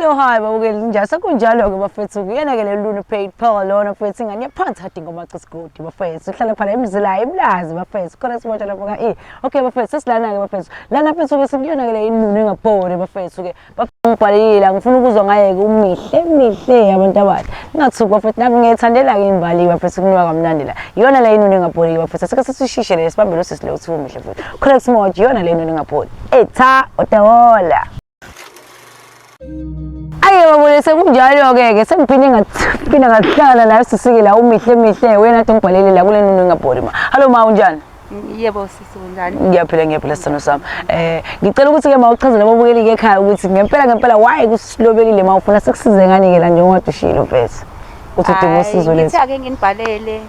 Hello hi babukeli njani sekunjalo ke bafethu kuyena ke leluni paid power lona mfethu ingane yaphansi hadi ngoba cisgodi bafethu uhlala khona emzila ebulazi bafethu khona simotsha lapho ka eh okay bafethu sesilana ke bafethu lana mfethu ke sikuyona ke le inunu engabhori bafethu ke Babhalile ngifuna ukuzwa ngayeke umihle mihle abantu abasha ngingathuki bafethu nami ngiyayithandela-ke imbaliwe bafethu kunuka kamnandi la iyona le inuni engabholi-ke bafethu asike sisishishe le sibambe lo sisi lo uthi umuhle futhi correct smart iyona le inuni engabholi etha otawola aye babone sekunjalo-ke-ke sengiphinde ngaphinde ngahlala nayo sisike la umihle mihle wena nathi ngibhalele la kule nuni engabholi ma hallo ma unjani Yebo sisi kunjani? Ngiyaphila ngiyaphila sithando sami. Eh ngicela ukuthi ke mawuchazele ababukeli ke ekhaya ukuthi ngempela ngempela why kusilobelile mawufuna sikusize ngani ke la njengoba dushilo mfethu. Uthi udinga usizo lethu. Ngithe ake nginibhalele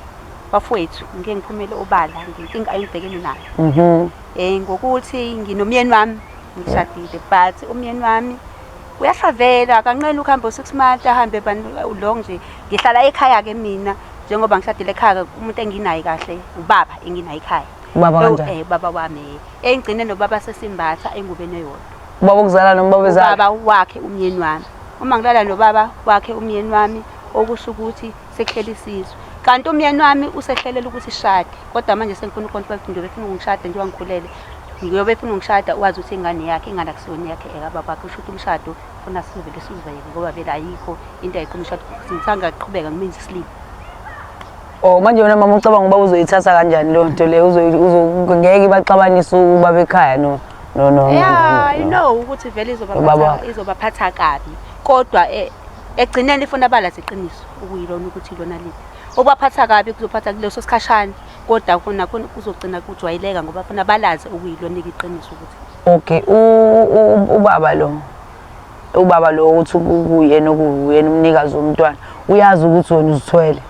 bafowethu ngike ngiphumele obala ngenkinga engibhekene nayo. Mhm. Eh ngokuthi nginomyeni wami ngishadile but umyeni wami uyasavela akanqeni ukuhamba u-six month ahambe long nje ngihlala ekhaya-ke mina njengoba ngishadile ekhaya umuntu enginaye kahle ubaba enginaye ekhaya ubaba kanjani eh baba wami eh engigcine nobaba sesimbatha engubeni eyodwa ubaba ukuzala noma baba ezala ubaba wakhe umyeni wami uma ngilala nobaba wakhe umyeni wami okusho ukuthi Sehlele isizwe. Kanti umyeni wami usehlelela ukuthi sishade. Kodwa manje sengifuna ukontrol ukuthi ngiyobe funa ungishada njengoba ngikhulele. Ngiyobe funa ungishada wazi ukuthi ingane yakhe ingane akusiyona yakhe ekababa kusho ukuthi umshado funa sizovele sizivele ngoba vele ayikho into ayiqhuma umshado. Ngithanga aqhubeka ngimenze isilima. Oh manje wena mama ucabanga uba uzoyithatha kanjani leyo nto leyo ngeke baxabanise ubaba ekhaya no no no. Yeah, I know ukuthi vele izobaphatha izobaphatha kabi kodwa eh, Ekugcineni ifuna abalazi iqiniso okuyilona ukuthi ilona liphi. Okubaphatha kabi kuzophatha kuleso sikhashana kodwa khona khona kuzogcina kujwayeleka ngoba funa balazi okuyilona iqiniso ukuthi. Okay ubaba lo ubaba lo uthi kuyena okuyena umnikazi womntwana uyazi ukuthi wena uzithwele.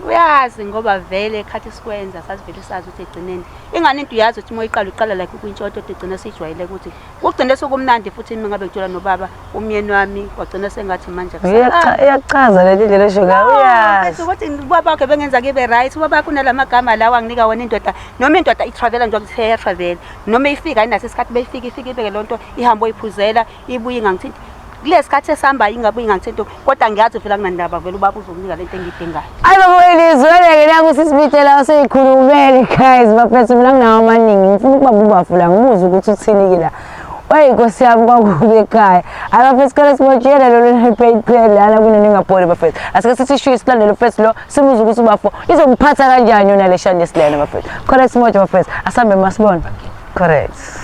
Uyazi ngoba vele ekhathi isikwenza sasivele sazi ukuthi egcineni ingane into uyazi ukuthi uma uyiqala uqala like ukwintshoto egcina sijwayele ukuthi Kugcine sokumnandi futhi mina ngabe ngitshela nobaba umyeni wami wagcina sengathi manje iyachaza leli ndlela esho ngayo uyazi ukuthi ubaba wakhe bengenza kibe right ubaba wakhe unalamagama lawa anginika wona indoda noma indoda itravela nje ukuthi iya travel noma ifika ayinaso isikhathi beyifika ifika ibeke lonto ihambo iphuzela ibuye ingangithinti kulesikhathi esihambayo ingabe ingathi into kodwa ngiyazi vela kunandaba vele ubaba uzokunika lento engidingayo ayi baba welizweleke naku sisibitshela useyikhulumele guys bafethu mina nginawo amaningi ngifuna ukuba bubafula ngibuze ukuthi uthini ke la oyi nkosi yami kwakubi ekhaya ayi bafethu sikole sibotshele lolu nepaid plan lana kuneningapholi bafethu asike sithi shuye silandele ufethu lo sibuze ukuthi ubafo izomphatha kanjani yona le shani yesilena bafethu correct simoja bafethu asambe masibona correct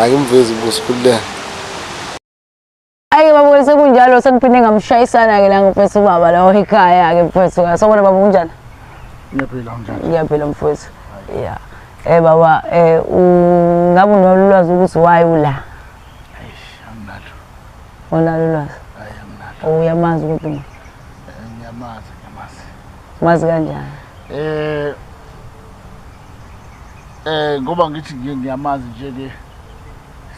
Akimvezi ubuso kululeka. Ayi baba sekunjalo sengiphinde ngamshayisana ke la ngifethu ubaba lawo ekhaya ke mfethu. Sawubona baba kunjani? Ngiyaphila unjani? Ngiyaphila mfethu. Yeah. Eh baba eh ngabe unolwazi ukuthi why ula? Eish anginalo. Unalo ulwazi? Hayi anginalo. Oh, uyamazi ukuthi eh, ngiyamazi ngiyamazi. Mazi kanjani? Eh Eh ngoba ngithi nje ngiyamazi nje ke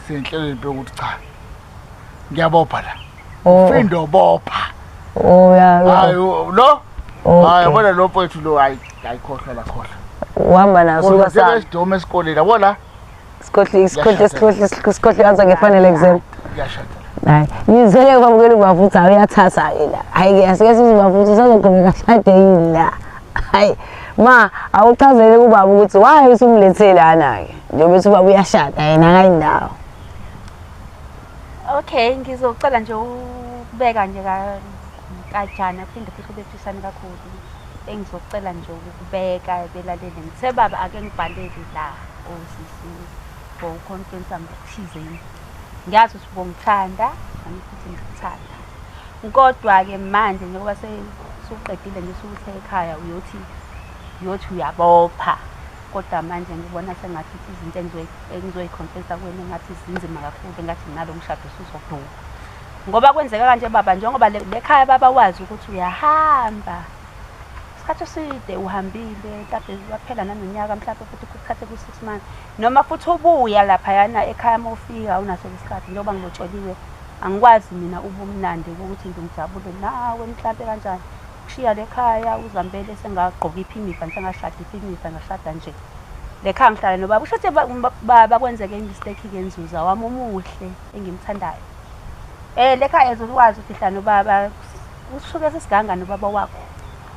senhlelweni bheka ukuthi cha. Ngiyabopha la. Oh. Ufindo bopha. Oh ya. Hayi lo. Hayi bona lo mfowethu lo hayi ayikhohlwa la khohlwa. Uhamba naso ka sa. Kodwa sesidome esikoleni yabona. Isikhohli isikhohli isikhohli isikhohli ansa ngefanele kuzela. Uyashada. Hayi, ngizele kwamukela ubavutha hayi uyathatha hayi la. Hayi ke asike size ubavutha sazogqoka kahlade yini la. Hayi, ma awuchazele kubaba ukuthi why usumlethele lana ke. Njengoba uthi ubaba uyashada yena akayindawo. Okay, ngizocela nje ukubeka nje ka kajana phinde futhi ubethusane kakhulu. Engizocela nje ukubeka belalele ngithe baba ake ngibhalele la osisi for uconfensa ngokuthizeni. Ngiyazi ukuthi ubongithanda nami futhi ngikuthanda. Kodwa-ke manje njengoba sesuqedile nje sukuthe ekhaya uyothi uyothi uyabopha kodwa manje ngibona sengathi ukuthi izinto engizoyiconfensa kuwena engathi zinzima kakhulu engathi nalo mshado usuzoduka. Ngoba kwenzeka kanje baba njengoba lekhaya baba wazi ukuthi uyahamba. Isikhathi eside uhambile mhlawumbe waphela nanonyaka mhlawumbe futhi kuthathe ku-six months noma futhi ubuya laphayana ekhaya uma ufika awunaso isikhathi njengoba ngilotsholiwe angikwazi mina ubumnandi ukuthi ngimjabule nawe mhlawumbe kanjani ukushiya lekhaya uzambele sengagqoka iphinifa ngisengashada iphinifa ngashada nje lekhaya ngihlala nobaba usho ukuthi baba kwenzeke imistake-ke nzuza wami omuhle engimthandayo Eh lekha ezo ukwazi ukufihla nobaba usuke sesiganga nobaba wakho.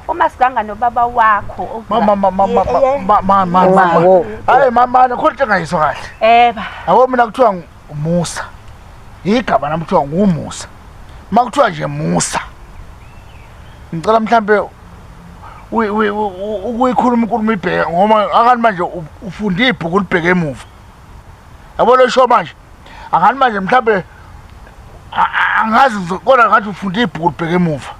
Uma siganga nobaba wakho okubula- mama mama mama Ye- ye- mama mama Wow. mama hayi mama khona into engayizwa kahle Eh ba. yabo mina kuthiwa ngu- umusa igama nami kuthiwa ngumusa uma kuthiwa nje musa ngicela mhlampe uyi- uyi- u- u- ukuyikhuluma inkulumo ibheke ngoba akani manje u- ufunde ibhuku libheke emuva yabo lesho manje angani manje mhlawumbe angazi kodwa ngathi ufunda ibhuku libheke emuva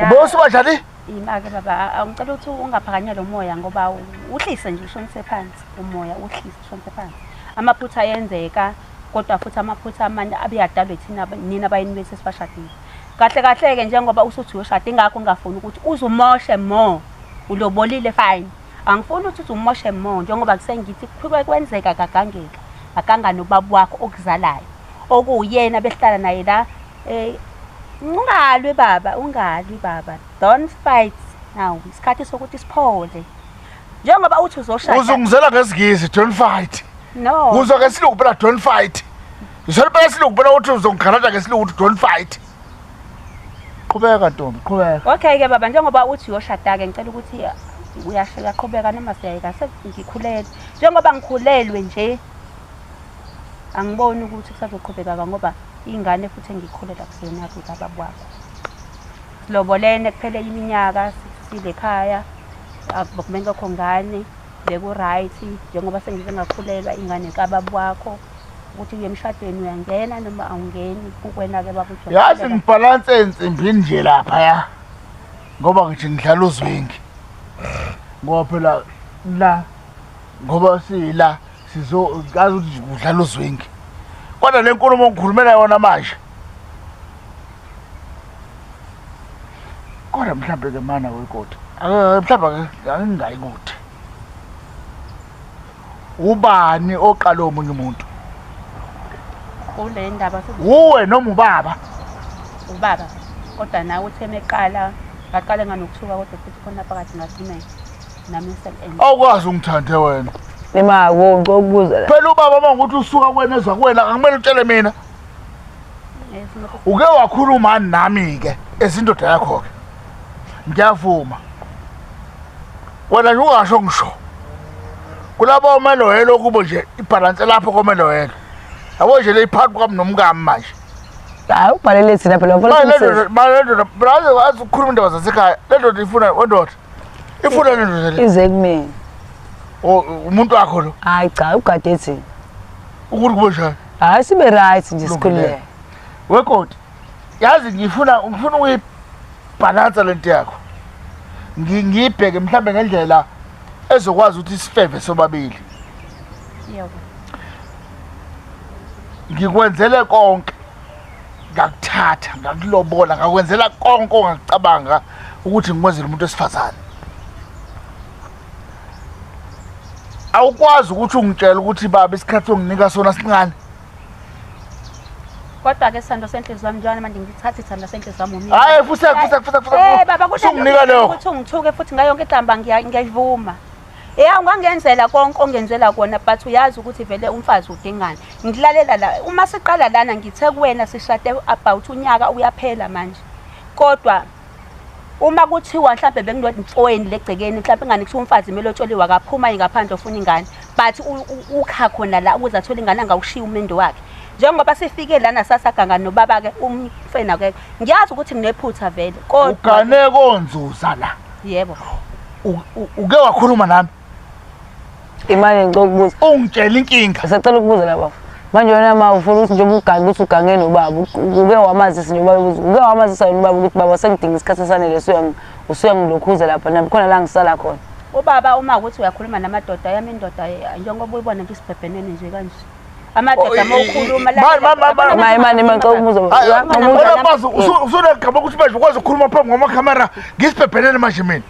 ubosi badlali yimake baba angicela ukuthi ungaphakanye lo moya ngoba uhlise nje ushonise phansi umoya uhlise ushonise phansi amaphutha ayenzeka kodwa futhi amaphutha amanye abeyadalwe thina nina bayini bethu esibashadile kahle kahle-ke njengoba usuthi uyoshada ingakho ngingafuni ukuthi uzumoshe more ulobolile fine Angifuni ukuthi umoshe mo njengoba kusengithi kukhulwe kwenzeka kagangeka aganga nobaba wakho okuzalayo okuwuyena behlala naye la eh ungalwi baba ungalwi baba don't fight now isikhathi sokuthi siphole njengoba uthi uzoshaya uzungizela ngezigizi don't fight no uzwa ngesilungu phela don't fight Usolibela silungu phela uthi uzongigalaja ngesilungu uthi don't fight qhubeka ntombi qhubeka okay ke baba njengoba uthi uyoshada-ke ngicela ukuthi uyasheka qhubeka noma siyayeka sengikhulele njengoba ngikhulelwe nje angiboni ukuthi kusazoqhubekaka ngoba ingane futhi engikhulela kuseyona-ke baba kwakho silobolene kuphele iminyaka sisile ekhaya akubekumele kokho ngane Beku-right njengoba sengize ngakhulelwa ingane kababa wakho ukuthi uye emshadweni uyangena noma awungeni kukwena-ke babuthi yazi ngibhalanse ensimbini nje laphaya ngoba ngithi ngidlala uzwingi ngoba phela la ngoba sila sizokazi ukuthi kudlala uzwingi kodwa le nkulumo ngikhulumela yona manje kodwa mhlawumbe ke mana wekoti eh, mhlawumbe ke angingayi kude ubani oqala omunye umuntu kule ndaba wuwe noma ubaba ubaba kodwa nawe uthe meqala ngaqale nganokuthuka kodwa futhi khona phakathi ngathumela nami ngisebenza awukwazi ungithande wena imako ngicela ukubuza phela ubaba uma ngokuthi usuka kwena ezwa kwena akumele utshele mina uke wakhuluma nami ke ezindoda yakho ke ngiyavuma wena nje ungasho ngisho kulabo omeloyelo kubo nje ibhalanse lapho komeloyelo yabo nje leyiphakathi kwami nomkami manje hayi ubhalele thina phela ukhuluma indaba zasekhaya le ndoda ifuna wendoda ifuna le ndoda le ize kumina umuntu wakho lo hayi cha ugade thina ukuthi kubo njani hayi sibe right nje sikhululeke wekoti yazi ngifuna ngifuna ukuyibhalansa lento yakho ngiyibheke mhlambe ngendlela ezokwazi ukuthi sifeve sobabili yebo ngikwenzele konke ngakuthatha ngakulobola ngakwenzela konke ongacabanga ukuthi ngikwenzela umuntu wesifazane awukwazi ukuthi ungitshela ukuthi baba isikhathi onginika sona sincane kodwa ke sithando senhliziyo yami njalo manje ngithatha isithando senhliziyo yami umile hayi futhi futhi futhi futhi eh baba kusho unginika lokho ukuthi ungithuke futhi ngayo yonke igamba ngiyayivuma Yeah ungangenzela konke ongenzela kona but uyazi ukuthi vele umfazi udingani. Ngilalela la uma siqala lana ngithe kuwena sishade about unyaka uyaphela manje. Kodwa uma kuthiwa mhlawumbe bekunodintsoweni legcekeni mhlawumbe ingane kuthiwa umfazi kumele otsholiwe akaphuma ingaphandle ofuna ingane but ukha khona la ukuze athole ingane angawushiya umendo wakhe njengoba sifike lana sasaganga nobaba-ke umfena ke ngiyazi ukuthi nginephutha vele kodwa ugane konzuza la yebo uke wakhuluma nami imali ngicela ukubuza ungitshela inkinga ngisacela ukubuza la bafo manje wena ma ufuna ukuthi njengoba ugange ukuthi ugange nobaba uke wamazisa nje ubaba ukuthi uke wamazisa yena ubaba ukuthi baba sengidinga isikhathi esanele usuyangilokhuza lapha nami khona la ngisala khona ubaba uma ukuthi uyakhuluma namadoda yami indoda njengoba uyibona nje isibhebhenene nje kanje amadoda uma ukhuluma maye mane manje umuzo usuneqhaba ukuthi manje ukwazi ukukhuluma phambi kwamakhamera ngisibhebhenene manje mina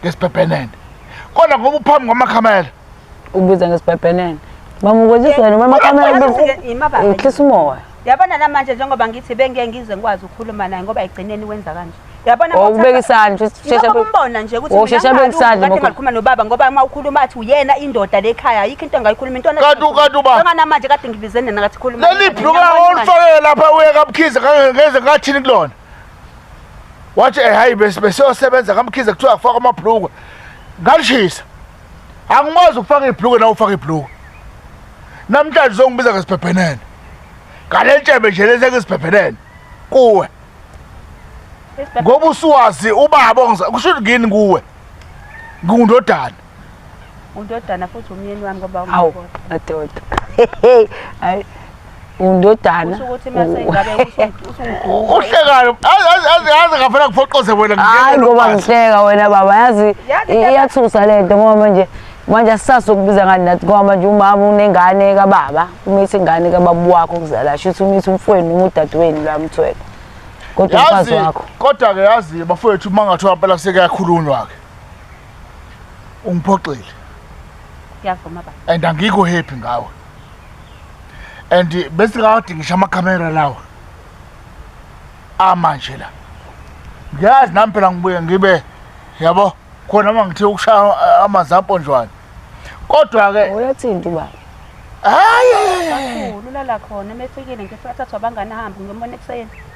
ngesibhebhenene kodwa ngoba uphambi kwamakhamela ubiza ngesibhebhenene bamukwezisa wena uma amakamela uhlisa umoya yabona namanje njengoba ngithi bengeke ngize ngikwazi ukukhuluma naye ngoba egcineni wenza kanje yabona oh, ubeka isandla shesha umbona nje ukuthi oh, shesha ubeka isandla ngoba ngikhuluma nobaba ngoba uma ukhuluma athi uyena indoda lekhaya ayikho into engayikhuluma into kanti kanti uba ngana manje kade ngibizene nakathi khuluma leli bhuka olifakele lapha uye kabukhize ngeze ngathini kulona wathi eh, hayi besiyosebenza kamkhize kuthiwa akufaka amabhulukwe ngalishisa angikwazi ukufaka ibhulukwe nawe ufaka ibhulukwe namhlanje uzongibiza ngesibhebhenene ngale ntshebe nje lezi engisibhebhenene kuwe ngoba usuwazi ubaba kusho ukuthi ngini kuwe ngingundodana undodana futhi umyeni wami ngoba awu madoda hayi undodana uhlekalo aze ngafuna kuphoqoze wena hayi ngoba ngihleka wena baba yazi iyathusa le nto ngoba manje manje asisasokubiza ngani nathi ngoba manje umama unengane kababa umithi ingane kababa wakho kuzala shuthi umithi umfweni noma udadewenu lwamthwele kodwa umfazi wakho kodwa-ke yazi bafowethu uma ngathiwa mpela sekuyakhulunywa-ke ungiphoxile ngiyavuma baba and angikho happy ngawe and bese kade ngisho amakhamera lawa amanje la ngiyazi nami phela ngibuye ngibe yabo khona uma ngithe ukushaya eh, amanzi amponjwane kodwa-ke uyathinta ubaba hayi ulala khona uma efikile ngifikathathwa abangani ahambe ngiyomona ekuseni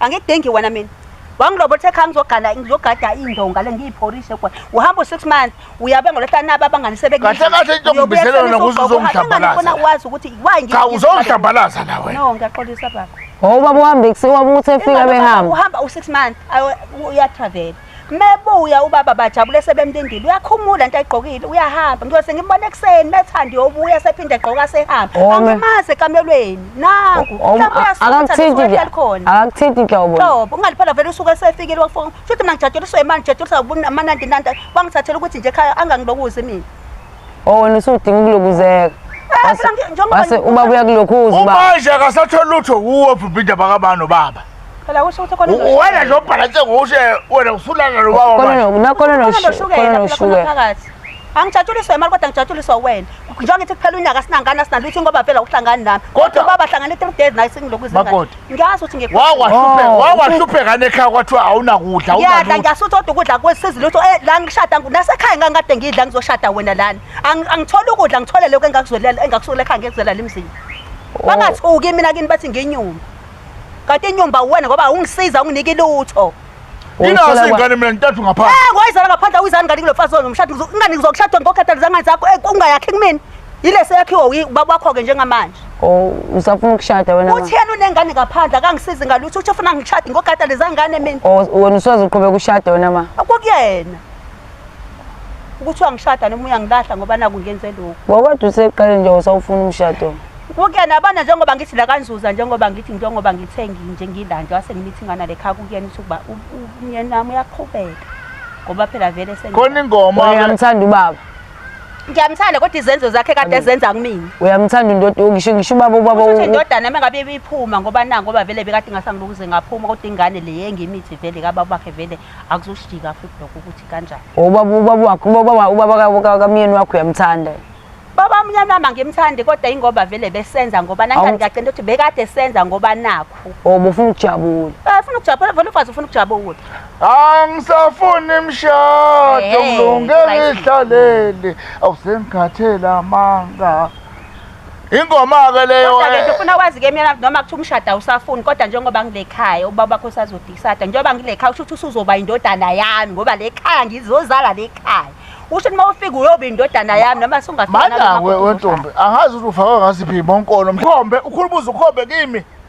angikudengi wena mina wangilobothe khaya ngizogala ngizogada indonga le ngiyiphorishe kwa uhamba u6 months uyabe ngolehlanaba abanganisebe kahle kahle into ngibizela wena ukuthi uzongidabalaza wazi ukuthi why ngithi cha uzongidabalaza la wena no ngiyaxolisa baba ngoba buhambe kusiwa ukuthi efika behamba uhamba u6 months uya travel mebuya ubaba bajabule sebemlindile uyakhumula into ayigqokile uyahamba ngiyose ngimbona ekuseni methandi yobuya sephinde egqoka sehamba oh, angimazi ekamelweni nangu oh, oh, akakuthinti nhlobo nhlobo ungaliphala vele usuke sefikile wafona futhi mina ngijatsheliswe imali ngijatsheliswa amanandinanda wangithathela ukuthi nje ekhaya angangilokuzi mina Oh wena usudinga ukulokuzeka. Wase ubaba uyakulokhuza uba. Manje akasathola lutho wuwe ubhibhida bakabani nobaba. Phela kusho ukuthi khona lo. Wena nje obhalanse ngushe wena usulana lo baba manje. Khona no khona no shukela ushukela phakathi. Angijatshuliswa imali kodwa ngijatshuliswa wena. Njengoba ngithi kuphela unyaka sinangana sinalutho ngoba phela uhlangani nami. Kodwa baba hlangana 3 days naye singilokuzingana. Ngiyazi ukuthi ngekho. Wawahlupheka, Oh, wawahlupheka nekhaya kwathiwa awunakudla, Ngiyadla awunalutho. ngiyasuthi kodwa ukudla kwesizi lutho eh, la ngishada ngu- nasekhaya ngangikade ngidla ngizoshada wena lana. Ang- Angitholi ukudla ngithole lokho engakuzwelela engakusulela ekhaya ngekuzela lemzini. Oh. Bangathuki mina kini bathi nginyumba. Kanti inyumba uwena ngoba awungisiza unginiki lutho. Inazo izingane mina ntathu ngaphandle. Eh ngoyizala ngaphandle awuyizani ngani kulomfazi wenu umshado ingane ngizokshada ngokhathalisa ngani zakho eh ungayakhi kumina. Yile seyakhiwa ubaba wakho ke njengamanje. Oh usafuna ukushada wena. Uthiyana unengane ngaphandle akangisizi ngalutho uthi ufuna ngishade ngokhathalisa ngane mina. Oh wena usoze uqhubeka ushada wena ma. Akukuyena. ukuthi wangishada noma uyangilahla ngoba naku ngenze lokhu ngokwedwa useqele nje usawufuna umshado kuyena abana njengoba ngithi la kanzuza njengoba ngithi njengoba ngithe nginje ngila nje wase ngimithi ngana le khaya kuyena ukuthi ukuba umyeni wami uyaqhubeka ngoba phela vele sengikhona Wena ingoma uyamthanda ubaba ngiyamthanda kodwa izenzo zakhe kade ezenza kumina uyamthanda indoda ngisho ngisho ubaba ubaba Kusho ukuthi indodana uma ngabe ibiphuma ngoba na ngoba vele bekade ngasangibukuze ngaphuma kodwa ingane le yengimithi vele kababa bakhe vele akuzoshika futhi lokho ukuthi kanjani ubaba ubaba wakho ubaba ubaba kamyeni wakho uyamthanda baba mnyana wami angimthandi kodwa ingoba vele besenza ngoba nangani ngiyacela ukuthi bekade senza ngoba nakho oh bufuna ukujabula eh ufuna ukujabula vele ufazi ufuna ukujabula angisafuni imshado mlunge ngihlalele awusemkhathela amanga Ingoma-ke leyo Kodwa-ke nje eh, ufuna wazi-ke mina noma kuthiwa umshado awusafuni kodwa njengoba ngile khaya ubaba wakho usazodisada njengoba ngile khaya usho ukuthi usuzoba indodana yami ngoba le khaya ngizozala le khaya usho ukuthi uma ufika uyoba indodana yami noma sungafika nami manje noma we kodwa wentombi angazi ukuthi ufakwe ngasiphi bonkolo mkhombe ukhulubuza ukhombe kimi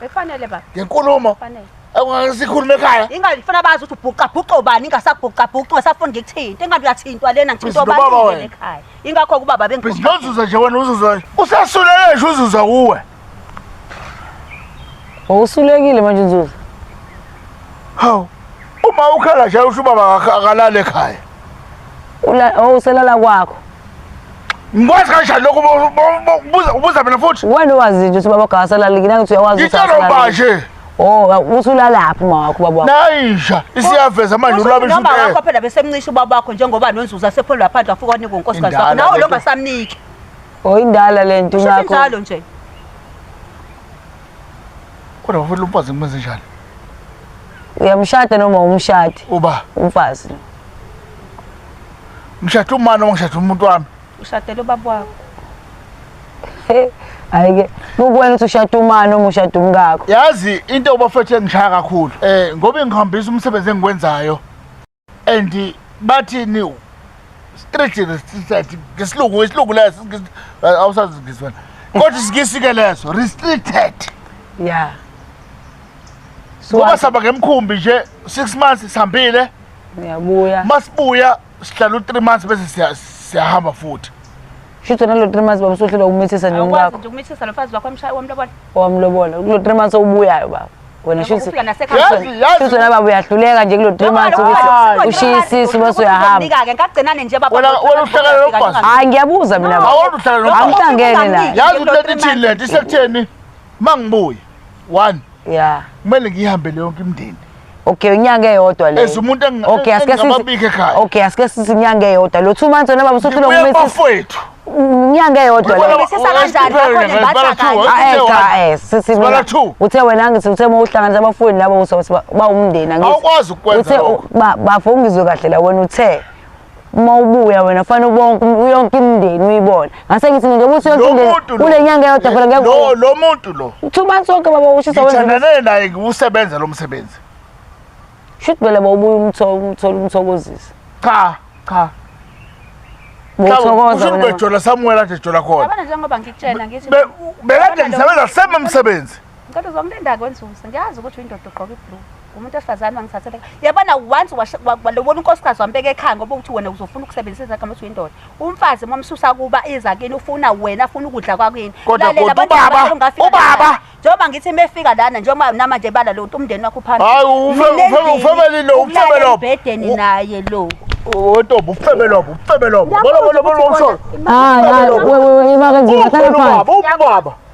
Bekufanele baba. Ngenkulumo. Fanele. Awungeke sikhulume ekhaya. Ingabe ngifuna bazi ukuthi ubhuqa bhuqa obani ingasabhuqa bhuqa ngasafuni ngikuthinte. Ingabe uyathintwa lena ngithinta Bhizi lobaba obani wena. ekhaya. Ingakho kubaba Bese bengikhuluma. nozuza nje wena uzuza. Usasulele nje uzuza kuwe. Wawusulekile manje Nzuza. Hawu. Uma ukhala nje usho ubaba akakho- akalale ekhaya. Ula oh uselala kwakho. Ngikwazi kanjani lokho ubuza ubuza mina futhi? Wena wazi nje ukuthi baba gasalala ngina ngithi uyawazi ukuthi usalala. Ngitshela baje. Oh usulalaphi uma wakho baba wakho. Nayisha isiyaveza manje ulabe isho. Noma wakho phela besemncisha ubaba wakho njengoba nonzuza sephondo laphandle afuka onika unkosikazi wakho. Nawe lo ngasamniki. Oh indala lento ngakho. Usho njalo nje. Kodwa bafuna umfazi ngimenze njani? Uyamshada noma umshadi? Uba umfazi. Ngishada umani noma ngishada umuntu wami? Ushadela ubaba wakho. Hayi ke kukwena ukuthi ushada umani noma ushada umkakho. Yazi into obafethu engishaya kakhulu eh ngoba ngihambisa umsebenzi engikwenzayo and bathi ni street restricted ngesilungu isilungu leso awusazi ngizwana kodwa isikisi ke leso restricted yeah ngoba sihamba ngemkhumbi nje six months sihambile uyabuya uma sibuya sihlala u-three months bese siya- siyahamba futhi shutho nalo three months baba usuhlelwa ukumithisa nje awukwazi umkakho nje ukumithisa lo mfazi wakho omsha- wamlobola owamlobola kulo three months owubuyayo baba wena Ngoba ufika nasekhaya. Yazi, yazi. shutho nababa uyahluleka nje kulo three months Lobola, ukuthi lobola, ushiye lobola, isisu lobola, bese uyahamba uzomnika-ke, ngagcinane nje baba Wena- wena uhlakana nokwazi. hayi ngiyabuza mina baba awona uhlala Awona uhlala nomfazi. Angihlangene naye. yazi Lo into three ethini months. lento isekutheni uma ngibuye one ya kumele ngiyihambele yonke imndeni okay inyanga eyodwa le as umuntu engi- okay asike sithi engingababiki ekhaya. okay asike sithi inyanga eyodwa lo two months wena baba usuthi lo Ngibuya mumesis kubafowethu inyanga eyodwa Ngibona le ba- Ubisisa kanjani West Africa, bakhona Zibala bathi two, kanjani? West Africa, aeka eh sithi Sibala mina- two. uthe wena ngithi uthe uma uhlanganisa abafowini labo uzothi ba- bawumndeni angithi. Awukwazi ukwenza Uthe, lokho. u- ba- bafo ungizwe kahle la wena uthe uma ubuya wena kufanele bonke yonke imindeni uyibone ngase ngithi nje ukuthi yonke imindeni kule nyanga yodwa phela ngeke lo lo muntu lo thuba sonke baba ushisa wenza ngithandane naye ngiwusebenza lo msebenzi shuthi phela bawubuya umthola umthola umthokozisa cha cha ngithokoza wena ubejola samuwela nje jola khona yabona njengoba ngikutshela ngithi bekade ngisebenza sema umsebenzi ngicela uzomlinda kwenzuza ngiyazi ukuthi uyindoda ugqoka iblue umuntu wesifazane wangithathela yabona once walobona unkosikazi wambeka ekhaya ngoba ukuthi wena uzofuna ukusebenzisa izakhe mase uyindoda umfazi momsusa kuba iza kini ufuna wena afuna ukudla kwakini ubaba njengoba ngithi mefika lana njengoba nama nje bala lo umndeni wakho phambili hayi ufebeli lo ufebe lo bedeni naye lo Otobo ufebe lobo ufebe lobo bolo bolo bolo umsholo hayi hayi wewe imake nje ngathana phansi ubaba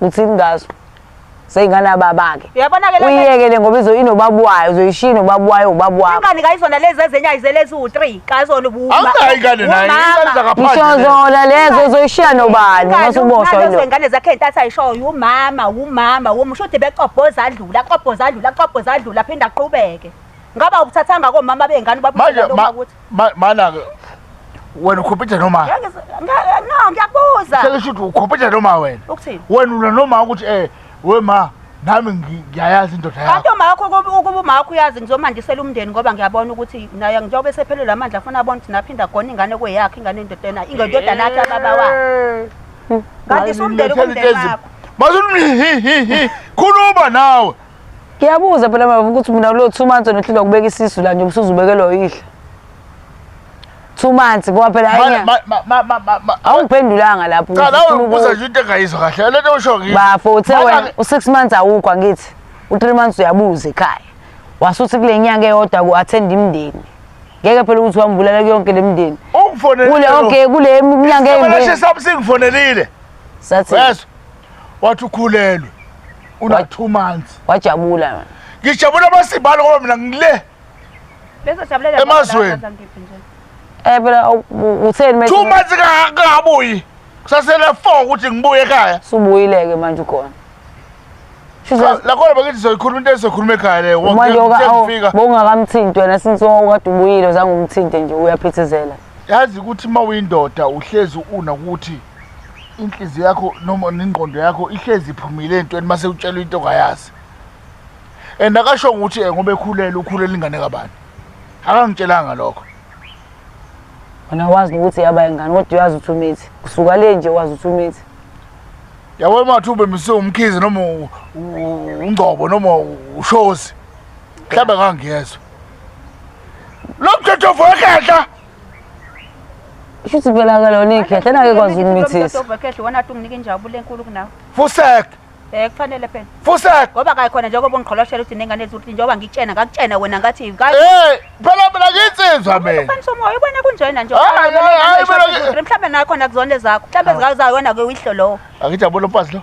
uthini ngaso seyingane ababake Uyabona ke lento- uyiyekele ngoba izo inobaba wayo uzoyishiya inobaba wayo ubaba wakho ingane kayizona lezi ezenye ayizele eziwu-three kayizona ubu- Awunayo ingane naye, umama. ingane zangaphandle. ngisho zona lezo uzoyishiya nobani Ingane uma usuboshwa unazo yilo ingane zakhe intatha ayishoyo umama umama um shuthi bekobhoza adlula kobhoza adlula kobhoza adlula aphinde aqhubeke ngaba ukuthathanga komama beyingane Manje, ma- ubabuselaokuthi Mana ke wena ukhompyutha noma? Ngeke no ngiyakubuza. Sele shuthi ukhompyutha noma wena? Ukuthini? Wena una noma ukuthi eh we ma nami ngiyayazi indoda yakho. Kanti umakho ukuba umakho uyazi ngizomandisela umndeni ngoba ngiyabona ukuthi naye njengoba esephelele amandla afuna abona ukuthi naphinda gona ingane kweyakhe ingane endodana ingendodana yakhe ababa wakhe. Kanti sumndeni kumndeni wakho. Bazulu khuluma nawe. Ngiyabuza phela baba ukuthi mina kulo 2 months onehlile ukubeka isisu la nje usuzubekelwa uyihle. 2 months ngoba phela ayenya. Awungiphendulanga lapho. Cha lawo ubuza nje into engayizwa kahle. Lento usho ngithi. Bafo uthe wena u6 months awukho angithi. U3 months uyabuza ekhaya. Wasuthi kule nyanga eyodwa ku attend imndeni. Ngeke phela ukuthi wambulala kuyonke lemndeni. Ungifonelile. Kule okay kule minyanga eyimbi. Sashe sabusingifonelile. Sathi. Yes. wathi ukhulelwe una two months wajabula wena ngijabula amasibalo ngoba mina ngile Bese siyabulela Emazweni. baba, ngiphi nje? eh phela u- u- utheni manje two months ka- kangabuyi kusasele four ukuthi ngibuye ekhaya subuyileke manje ukhona Shuthi Cha, lakhona bakithi sizoyikhuluma into esizokhuluma ekhaya leyo manje oka- awu, sengifika bowungakamthinti wena since wawukade ubuyile zange umthinte nje uyaphithizela yazi ukuthi uma uyindoda uhlezi una ukuthi inhliziyo yakho noma nengqondo yakho ihlezi iphumile entweni uma sewutshelwa into ongayazi and akasho ukuthi eh, ngoba ekhulele ukhulela ingane kabani akangitshelanga lokho wena wazi ukuthi yaba ingane kodwa uyazi ukuthi umithi kusuka le nje wazi ukuthi umithi yabo mathi ube mise umkhizi noma ungcobo noma ushozi mhlawumbe ngangiyezwa Lo mthetho vokhehla. Shuthi phela ke lona ikhehla nake kwazi ukumithisa. Vokhehla wona athi unginike injabulo enkulu kunawe. Fusek. Eh kufanele phela. Fusek. Ngoba kayi khona njengoba ungigqoloshela ukuthi nengane ezuthi njengoba ngikutshena ngakutshena wena ngathi kayi. Eh phela phela nginsizwa mina. Ufanisa umoya ubona kunjena nje. Hayi hayi mhlawumbe nakhona kuzone zakho. Mhlawumbe zikazayo wena ke uyihlo lowo. Angijabule mfazi lo.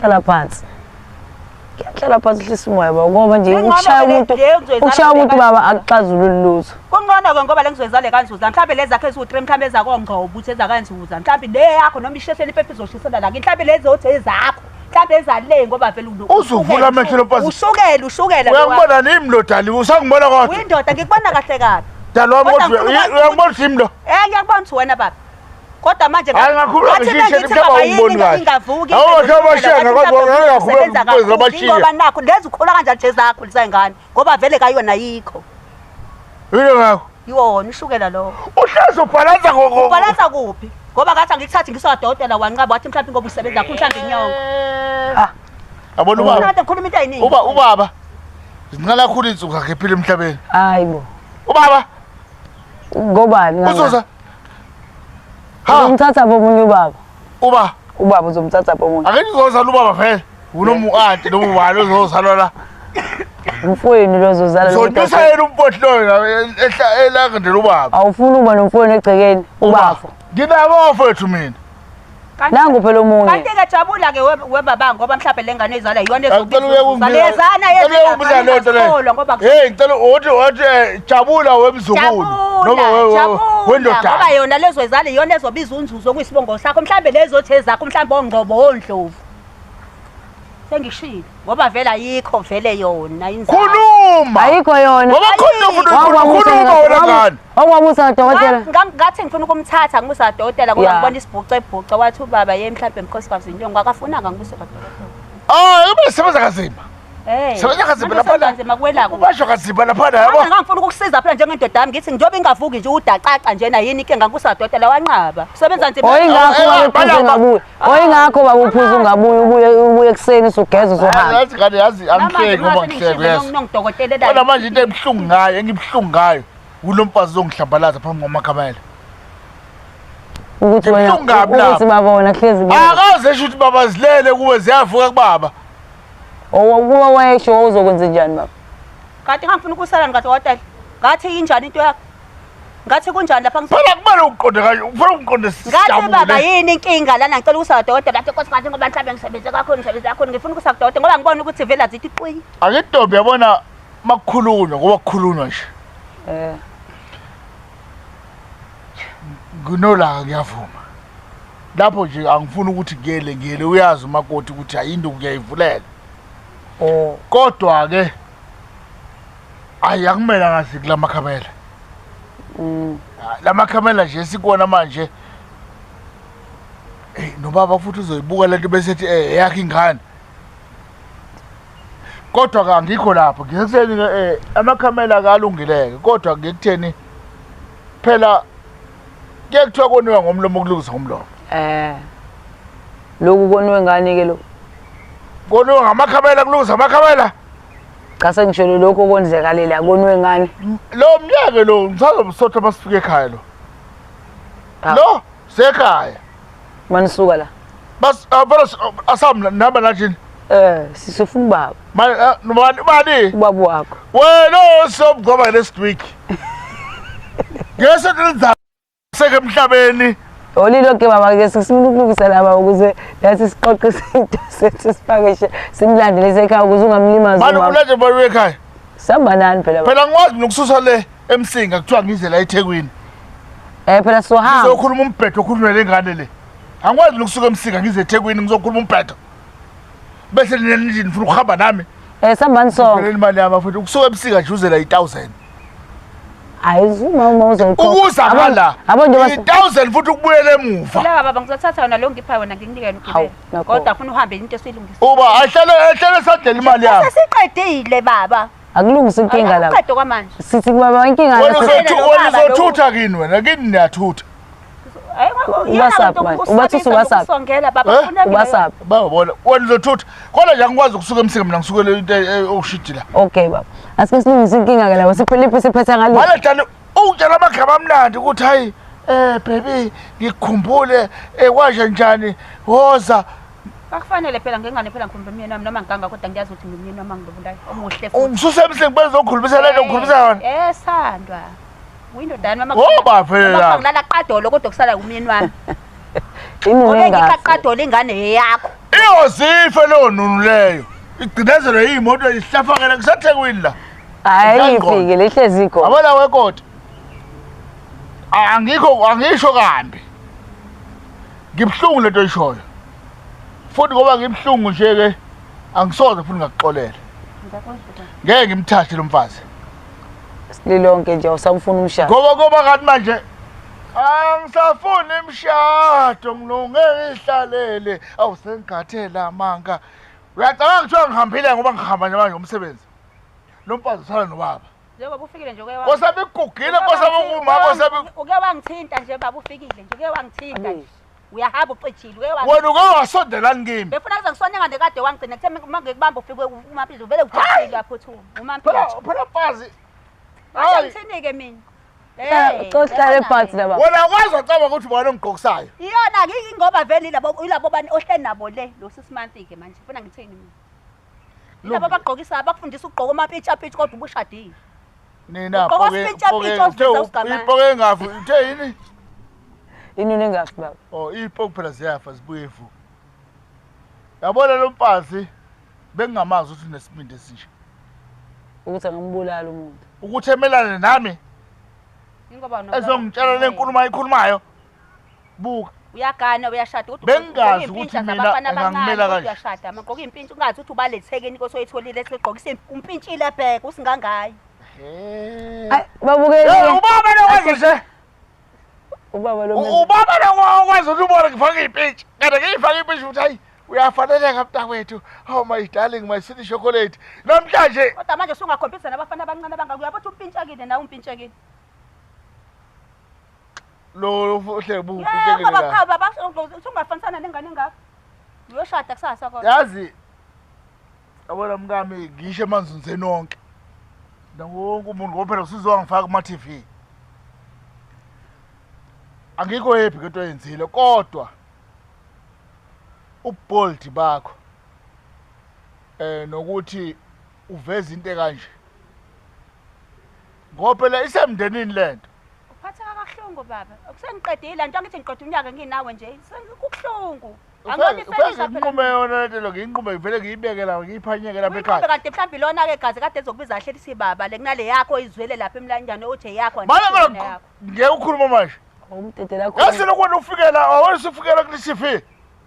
hlala phansi ngiyahlala phansi uhlisa umoya baba ngoba nje Njengoba ukushaya vele umuntu nje uzoyizala ukushaya umuntu nje baba akuxazululi lutho kuncono ke ngoba le ngizoyizale kanzuza mhlawumbe lezi zakhe eziwu-three mhlawumbe ezakongqo ubuthi ezakanzuza mhlawumbe le yakho noma ishehleni ipepe izoshisela lakini mhlawumbe lezi othi ezakho mhlawumbe ezale ngoba vele uno- Uzuvula amehlo lo mfazi. ushukela ushukela uyangibona nini mlodali usangibona kodwa uyindoda ngikubona kahle kabi dali wami Kodwa kodwa ngifuna ukwazi uyangibona ukuthi yimi lo Eh ngiyakubona ukuthi wena baba Kodwa manje hayi ngakhuluma ngisho ngithi baba yini ingavuki awuhamba shanga kodwa ngakhuluma kwezi abashiya ngoba nakho lezi ukhula kanjani nje zakho lisayingane ngoba vele kayona yikho yini ngakho yona ishukela lo uhlazo bhalansa ngoko bhalansa kuphi ngoba kathi angikuthathi ngisodokotela wanqaba wathi mhlawumbe ngoba usebenza kho mhlawumbe inyongo ah abona ubaba unathi ukhuluma into eyiningi uba ubaba zinqala khulu insuku zakhe phila emhlabeni hayibo ubaba ngobani ngani uzoza Ha! Uzomthatha phi omunye ubaba? Uba Ubaba uzomthatha phi omunye? ake ngizozala ubaba vele. Unomuanti noma ubani ozozalwa la. Umfowenu lo uzozala lo Uzotusa mntwana. yena umpoti loyo la ehla elangandela ubaba. Awufuni uba nomfowenu egcekeni? Ubafo. Nginabo mfowethu mina. nangu phela omunye kanti ke jabula ke webaba ngoba mhlawumbe lengane izala iyona ezobizana yezana ngoba hey ngicela uthi uthi eh, jabula wemzukulu noma wendoda ngoba yona lezo izala iyona ezobiza unzuzo kwisibongo sakho mhlawumbe lezo othe zakho mhlawumbe ongqobo ondlovu sengishilo ngoba vele ayikho vele yona inzalo khuluma ayikho yona ngoba khona umuntu ukhuluma wena ngani Ongwamusa kadokotela. Ngam ngathi ngifuna ukumthatha ngumusa kadokotela ngoba ngibona isibhuce ebhuce wathi ubaba yeye mhlawumbe mkhosi kwazi inyongo akafunanga ngumusa kadokotela. Oh, ibe sebenza kazima. Hey. Sebenza kazima lapha la. Kazima kwelako. Ubasho kazima lapha la yabo. Ngangifuna ukukusiza phela njengendoda yami ngithi njobe ingavuki nje udacaca njena yini ke ngangusa dotela wanqaba. Sebenza nzima. Hoyi ngakho wayephuza ngabuye. Hoyi ngakho baba uphuza ungabuye ubuye ubuye kuseni sugeza uzohamba. Yazi kade yazi angihleki ngoba ngihleki yes. Kodwa manje into ebuhlungu ngayo engibhlungu ngayo. Kulo mfazi uzongihlambalaza phambi kwamakhamela. Ukuthi wena Kubuhlungu kabi lapho. ukuthi baba wena kuhlezi kuwe. Akaze esho ukuthi baba zilele kuwe ziyavuka kubaba. Owa- Uma wayesho wawuzokwenza njani baba? Kade ngangifuna ukusalani kade watali. Ngathi yinjani into yakho? Ngathi kunjani lapha ngifuna Phela kumele uqonde kanye, ufuna uqonde Ngathi baba sijabule. yini inkinga lana ngicela ukusa kudokotela lapho inkosi ngathi ngoba mhlawumbe ngisebenze kakhulu ngisebenze kakhulu ngifuna ukusa kudokotela ngoba ngibona ukuthi vele azithi qwi. Akentombi yabona makukhulunywa ngoba kukhulunywa nje eh kunolaka kuyavuma lapho nje angifuni ukuthi kuyele ngiyele uyazi umakoti ukuthi ayinto kuyayivulela oh kodwa ke ayi akumele ngazi kula makhamela mm. ah, la makhamela nje sikona manje nobaba futhi uzoyibuka lento bese ethi eh yakhe ingane kodwa ka ngikho lapho ngikutheni um eh, amakhamela kalungileke kodwa ngikutheni phela kuye kuthiwa koniwa ngomlomo kulungisa ngomlomo um loku koniwe ngani-ke loku koniwe ngamakhamela kulungisa amakhamela cha sengisholo lokhu okwenzekalela koniwe ngani lo mnyeke lo ngisazomsotha masifika ekhaya lo lo sekhaya manisuka la bas avela asamla naba lajini eh sisifuna ubaba manje nobani ubani ubaba wakho wena osobugoma next week ngese nizama seke emhlabeni olilo ke mama ke sifuna ukulungisa laba ukuze nathi siqoqe izinto sethu sipakishe simlandele sekhaya ukuze ungamlimazi manje kulanje bayo ekhaya sihamba nani phela phela ngikwazi nokususa le emsinga kuthiwa ngize la ethekwini Eh phela sohamba. ngizokhuluma umbhedo okhulunywa le ngane le angikwazi nokusuka emsinga ngize ethekwini ngizokhuluma umbhedo bese nina nithi nifuna ukuhamba nami Eh sambani sonke. pheleni imali yami afuthi ukusuka emsinga nje uzela i-thousand Hayi uma uma uzoyikhokha. ukuza Abo- ngala Abo nje bas- i-thousand futhi ukubuyela emuva Lawa baba ngizothatha yona lo ngipha yona ngikunike yona Hawu, ugibele. nakho. Kodwa funa uhambe into esuyilungisa. uba ahlale ahlale esadlela imali yami Sesiqedile baba. akulungisa inkinga lapho Uqede kwamanje. sithi kubaba inkinga Wena lapho. Uqede uzothu- lo wena baba lo- uzothutha kini wena kini niyathutha Hayi, wabo, iyona Ubasaphi lento manje? yokusondisa Ubathisa ubasaphi? nokusongela, baba, Eh? funa mina. ubasaphi babona wena uzothutha kodwa nje angikwazi ukusuka emsika mina ngisukele into e- e- okushidi la okay baba asike silungise inkinga ke lapho siphiliphi siphetha ngalo maledane ungitshela amagama amnandi ukuthi hayi um bebi ngikukhumbule um kwanje njani woza Akufanele phela ngengane phela ngikhuluma umyeni wami noma ngiganga kodwa ngiyazi ukuthi ngumyeni wami angilobulayo omuhle futhi. Ungisusa emhleni kuba ngizokhulumisa lento ngikhulumisa yona. Eh sandwa. Uyindodana mama. Ngoba phela. Mama ngilala qadolo kodwa kusala umyeni wami. Ini ngeke. Ngeke iqaqadolo ingane yakho. Iyozifa leyo nunu leyo. Igcinezelo yimoto ihlafakela kusathekwini la. Hayi ifike lehlezi ikho. Abona wekoti. Angikho angisho kambi. Ngibuhlungu lento oyishoyo. Futhi ngoba ngibuhlungu nje ke angisoze futhi ngakuxolela. Ngeke ngimthathe lo mfazi. Sililonke nje awusamfuni umshado. Ngoba ngoba kanti manje angisafuni imshado ngilunge ihlalele awusengikhathela amanga uyacabanga kuthiwa ngihambile ngoba ngihamba nje manje umsebenzi lo mfazi usala nobaba Njengoba ufikile nje uke wa- Kosami kugugile uke kosami wangi- ukuma uke kosami wangi- Uke wangithinta nje baba ufikile nje uke wangithinta nje. Uyahamba ucijile uke wangi- wena uke wasondelani kimi. Befuna kuze ngisonye ngande kade wangigcina kuthe uma ngikubamba ufike uMampilo vele ujabulile yaphuthuma. Phela UMampilo. phela mfazi. Hayi. Angithinike mina. Eh, Coach Dale Parts laba. Wena wazi wacaba ukuthi ubona ongigqokisayo. Iyona ke ingoba vele ilabo ilabo bani ohle nabo le lo sisimanti ke manje. Ufuna ngithini mina? Laba bagqokisa abakufundisa ukugqoka amapitsha pitch kodwa ubushadile. Nina Ugqoka poke isipitsha poke pitch uthe oziveza ugamane. ipoke engafu uthe yini? Inini engafi baba. Oh ipoke phela ziyafa zibuye vu. Yabona lo mfazi bengingamazi ukuthi unesibindi esinje. Ukuthi angambulala umuntu. Ukuthi emelane nami Ingoba no. ezongitshela lenkulumo ayikhulumayo. buka uyagana uyashada kodwa bengazi ukuthi mina ngangimela kanje uyashada amagqoka impintshi ungazi ukuthi ubalethekeni inkosi oyitholile esigqokisa impintshile ebheke usingangayo babukele ubaba lokwazi nje ubaba lo ubaba lokwazi ukuthi ubona ngifaka impintshi kanti ngiyifaka impintshi ukuthi hayi uyafaneleka mntakwethu oh my darling my sweet chocolate namhlanje kodwa manje sungakhompisa nabafana abancane abangakuyabothi umpintshekile nawe umpintshekile Lo uhleke bu uphike Baba cha baba usungafanisana nengane engaka. Uyoshada kusasa kodwa. Yazi Yabona mkami ngisho emanzunzeni onke. Nawonke umuntu ngoba phela usuzongifaka kuma TV. Angikho happy ngento oyenzile kodwa ubold bakho eh nokuthi uveza into kanje ngoba phela isemndenini lento uphatheka kabuhlungu baba akusengiqedile la nto angithi ngiqeda unyaka nginawe nje kubuhlungu nginqume yona lento lo ngiyinqume ngivele ngiyibeke la ngiyiphanyeke lapha ekhaya kanti mhlawumbe ilona-ke gazi kade ezokubiza ahleli sibaba le kunale yakho izwele lapha emlanjani othi eyakho ngeke ukhuluma manje yasilokweni ufikela awena usufikela kulisifi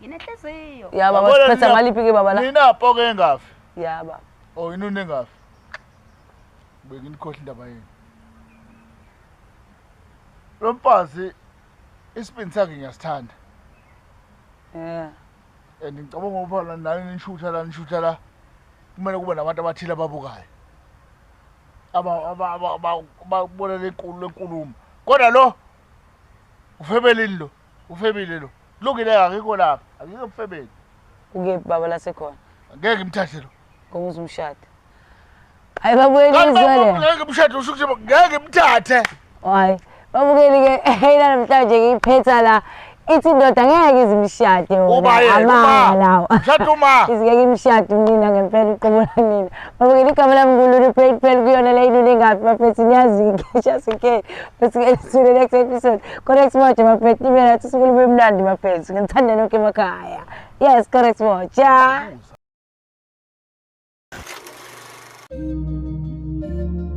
Nginenhliziyo. Ya baba Yabona siphetha nina- maliphi ke baba la? Nina poke engafi. Ya baba. Oh inuni engafi. Benginikhohle indaba yenu. Lo mfazi isibindi sakhe ngiyasithanda. Yeah. And ngicabanga ukuba la nani nishutha la nishutha la kumele kube nabantu abathile ababukayo. Aba aba aba- aba- ababona lenkulu lenkulumo. Kodwa lo ufebelini lo. Ufebile lo. Kulungile akekho lapha. Akekho ubufebile. Ukephi baba lasekhona? Ngeke imthathe lo. Ngomuzi umshado. Hayi babuyele izwele. Ngeke umshado usho ukuthi ngeke imthathe. Hayi. Babukeli ke eyina namhlanje ngiyiphetha la. Ithi indoda ngeke izimshade wona. Amanga lawo. Mshado uma. Izingeke imshade unina ngempela uqobola nina. Babukeli igama lami ngululu phel phel kuyona leyilule ngaphi bafethu niyazi ngisha sikhe. Sesike next episode. Correct moja mafethu mina sisuke lube mnandi mafethu. Ngithanda nonke emakhaya. Yes, correct moja. Thank you.